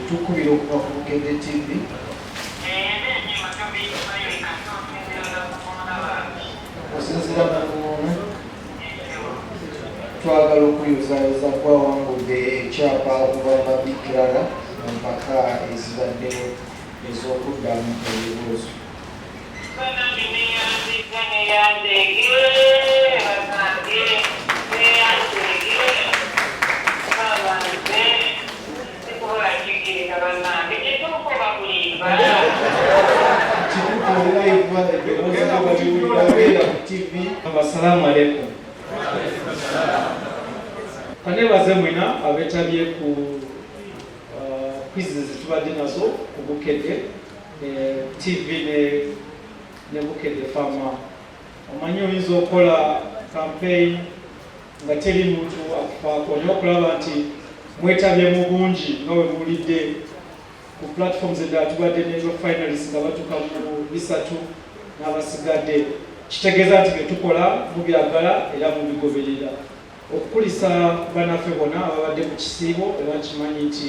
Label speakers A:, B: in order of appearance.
A: Tukubira okuva ku Bukedde TV. Okusinzira na Muwona, twagala okuyozaayoza kwawangudde ekyapa okuva mu mabikirara mu mpaka ezibaddewo ez'okuddamu ebibuuzo. Assalamu alaikum. Kanebaze mwena abetabye ku uh, quizzes tubadde nazo ku Bukedde TV ne ne Bukedde Farmer. Omanyi oyinza okola campaign nga teri muntu akufaako olina okulaba nti mwetabye mu bungi nga we muwulidde ku platforms eddala tubadde nezo finalist nga batuka mu bisatu n'abasigadde kitegeeza nti byetukola mubyagala era mubigoberera okukulisa banaffe bona ababadde ku kisiibo era nkimanyi nti